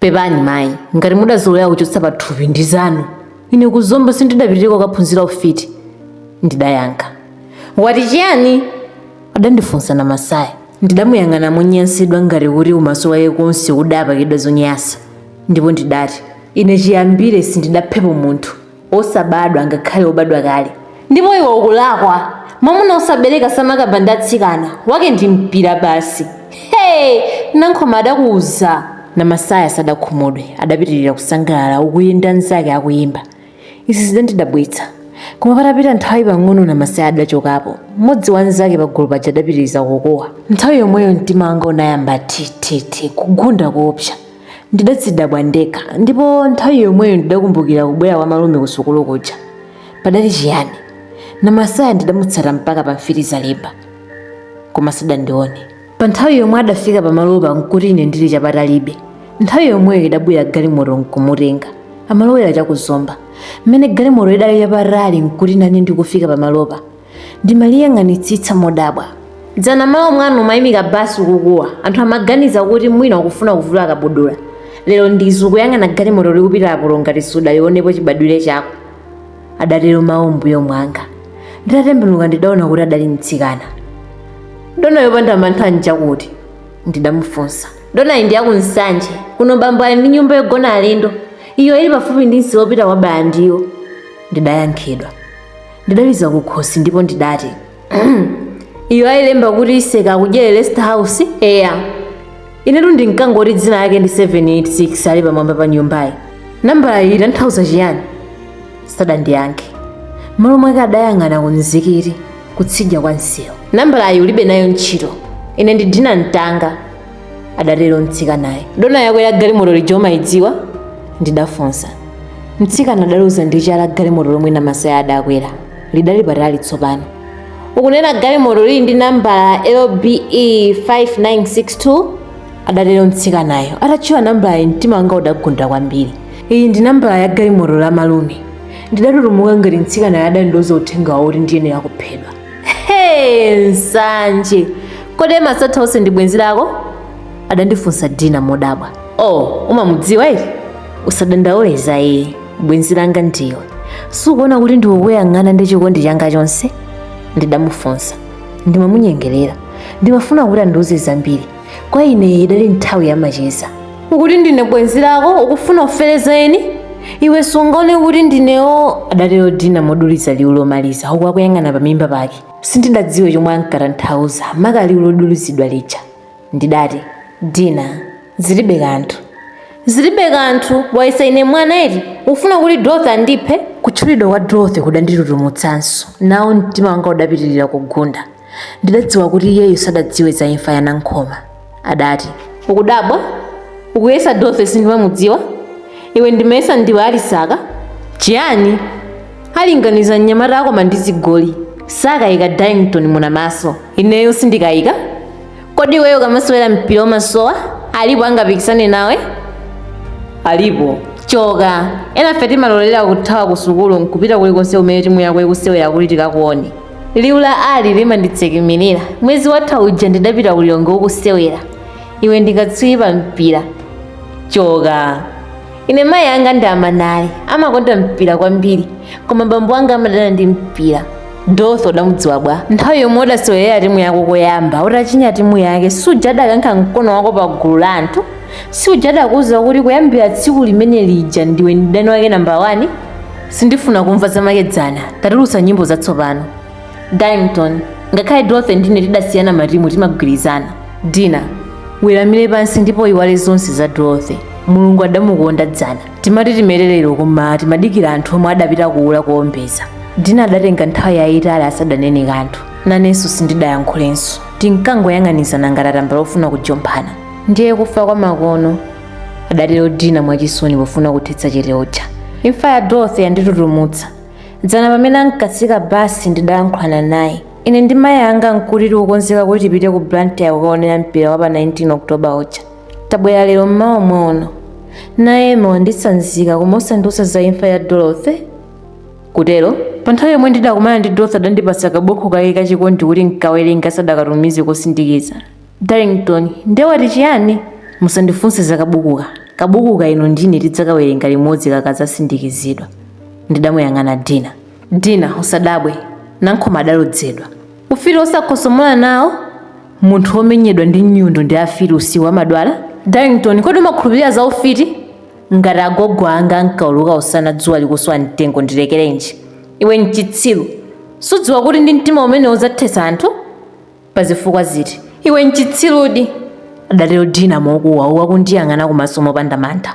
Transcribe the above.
pepani mayi ngati mudazolowera kuchotsa pathupi ndi zanu ine ku zomba sindidapitireko kukaphunzira ufiti ndidayankha wati chiyani adandifunsa namasaya ndidamuyang'ana monyansidwa ngati kuti umaso wake konse udapakidwa zonyasa ndipo ndidati ine chiyambire sindidaphepo munthu osabadwa ngakhale obadwa kale ndipo iwe ukulakwa mwamuna osabereka samakamba ndi atsikana wake ndi mpira basi he nankhoma adakuuza namasaya sadakhumudwe adapitirira kusangalala uku iye ndi anzake akuyimba izi zidandidabwitsa koma patapita nthawi pang'ono namasaya adachokapo mmodzi wa anzake pagulu paja adapitiriza kukuwa nthawi yomweyo mtima wanga unayamba thithithi kugunda koopsa Ndidadzidabwa ndekha ndipo nthawi yomweyo ndidakumbukira kubwera kwa malume kusukulu kuja. Padali chiyani? Namasaya ndidamutsata mpaka pa Mfitizalimba, koma sadandione. Pa nthawi yomwe adafika pamalopa nkuti ine ndili chapatalibe. Nthawi yomweyo idabwera galimoto nkumutenga. Amalowera cha ku Zomba. Mmene galimoto idali chapatali nkuti nane ndikufika pamalopa. ndimaliyang'anitsitsa modabwa dzana malo omwano umayimika basi ukukuwa anthu amaganiza kuti mwina ukufuna kuvula kabudula lero ndizi ukuyang'ana galimoto likupita apo ngati sudalionepo chibadwire chako adatero mawu m'mbuyo mwanga nditatembenuka ndidaona kuti adali mtsikana dona yopanda mantha njakuti ndidamufunsa donayi ndi ya ku nsanje kuno bambo ali ndi nyumba yogona alendo iyo ili pafupi ndi msewu wopita kwa balandiyo ndidayankhidwa ndidaliza kukhosi ndipo ndidati iyo ayilemba kuti iseka akudyere rest house eya inetu ndinkangoti dzina lake ndi 786 ali pamwamba pa nyumbayi nambalayi itanthauza chiyani sadandiyankhe malo mwake adayang'ana ku mzikiti kutsidya kwa msewu nambalayi ulibe nayo ntchito ine ndi dina mtanga adatero mtsikanayo dona yakwera galimoto lija umayidziwa ndidafunsa mtsikana adaloza ndi chala galimoto lomwe namasaya adakwera lidali patali tsopano ukunena galimoto lili ndi nambala lbe 5962 adatero mtsikanayo atatchula nambalayi mtima wanga udagunda kwambiri iyi ndi nambala ya galimoto la malume ndidatutumuka ngati mtsikanayo adandiuza uthenga wakuti ndiyenera kuphedwa He, nsanje kodi masatha onse ndi bwenzi lako adandifunsa dina modabwa oh umamudziwa ii usadandaule za iye bwenzi langa ndiwe sukuona kuti ndikukuyang'ana ndi chikondi changa chonse ndidamufunsa ndimamunyengerera ndimafuna kuti andiuze zambiri kwa ine idali nthawi yamacheza ukuti ndine bwenzi lako ukufuna ufere za eni iwe sungaone kuti ndine wo adatero dina moduliza liwu lomaliza uku akuyang'ana pamimba pake sindidadziwe chomwe ankatanthauza maka liwu lodulizidwa lija ndidati dina zilibe kanthu zilibe kanthu wayesa ine mwana eti ufuna kuti dorothy andiphe kutchulidwa kwa dorothy kudanditutumutsanso nawo mtima wanga udapitirira kugunda Ndidadziwa kuti iyeyo sadadziwe za imfa ya Nankhoma. Adati, Ukudabwa? Ukuyesa Dorothy sindimamudziwa? Iwe ndimayesa ndiwe Alisaka? Chiyani? Alinganiza mnyamata akoma ndi zigoli. Sakayika Darlington Munamaso. Ineyo sindikayika? Kodi iweyo ukamasewera mpira umasowa? Alipo angapikisane nawe? Alipo. Choka. Enafe timalolera kuthawa ku sukulu nkupita kulikonse kumene timu yako ikusewera kuti tikakuone. liwu la ali limanditsekemerera mwezi watha uja ndidapita ku lilongwe ukusewera iwe ndi katswiri pa mpira choka ine mayi anga ndi amanali amakonda mpira kwambiri koma bambo anga amadana ndi mpira dorothy udamudziwa bwa nthawi yomwe udasewerera timu yako koyamba utachinya timu yake suja adakankha mkono wako pa gulu la anthu suja adakuwuza kuti kuyambira tsiku limene lija ndiwe mdani wake namba 1 sindifuna kumva zamakedzana tatulutsa nyimbo zatsopano darlington ngakhale dorothy ndine tidasiyana matimu timagwirizana dina weramire pansi ndipo iwale zonse za dorothy mulungu adamukonda dzana timati timete lero koma timadikira anthu omwe adapita kuula kuombeza dina adatenga nthawi yayitali asadanene kanthu nanenso sindidayankhulenso tinkangoyang'anizana ngati atambala ofuna kujomphana ndiye kufa kwa makono adatero dina mwachisoni pofuna kuthetsa chete uja imfa ya dorothy yanditutumutsa dzana pamene ankatsika basi ndidayankhulana naye ine ndi mayi anga nkuti tikukonzeka kuti tipite ku blantyre kukaonera mpira wa pa 19 oktoba uja tabwera lero mmawa muno naye wanditsanzika koma osandiuza za imfa ya dorothy kutero pa nthawi yomwe ndidakumana ndi dorothy adandipatsa kabukhu kake kachikondi kuti nkawerenge asadakatumize kosindikiza Darlington, nde wati chiyani? Musandifunse za kabukuka. Kabukuka inu ndi ine tidzakawerenga limodzi kakadzasindikizidwa. Ndidamuyang'ana Dina. Dina, usadabwe. Nankhoma adalodzedwa. Ufiti wosakhosomola nawo? Munthu womenyedwa ndi nyundo ndi afiti usiku amadwala? Darlington, kodi umakhulupirira za ufiti? Ngati agogo anga ankauluka usana dzuwa likuswa mtengo ndilekerenji? Iwe n'chitsiru. Sudziwa kuti ndi mtima umenewo udzathetsa anthu? Pa zifukwa ziti? Iwe nchitsirudi! adatero Dina mokuwa uku akundiyang'ana kumaso mopanda mantha.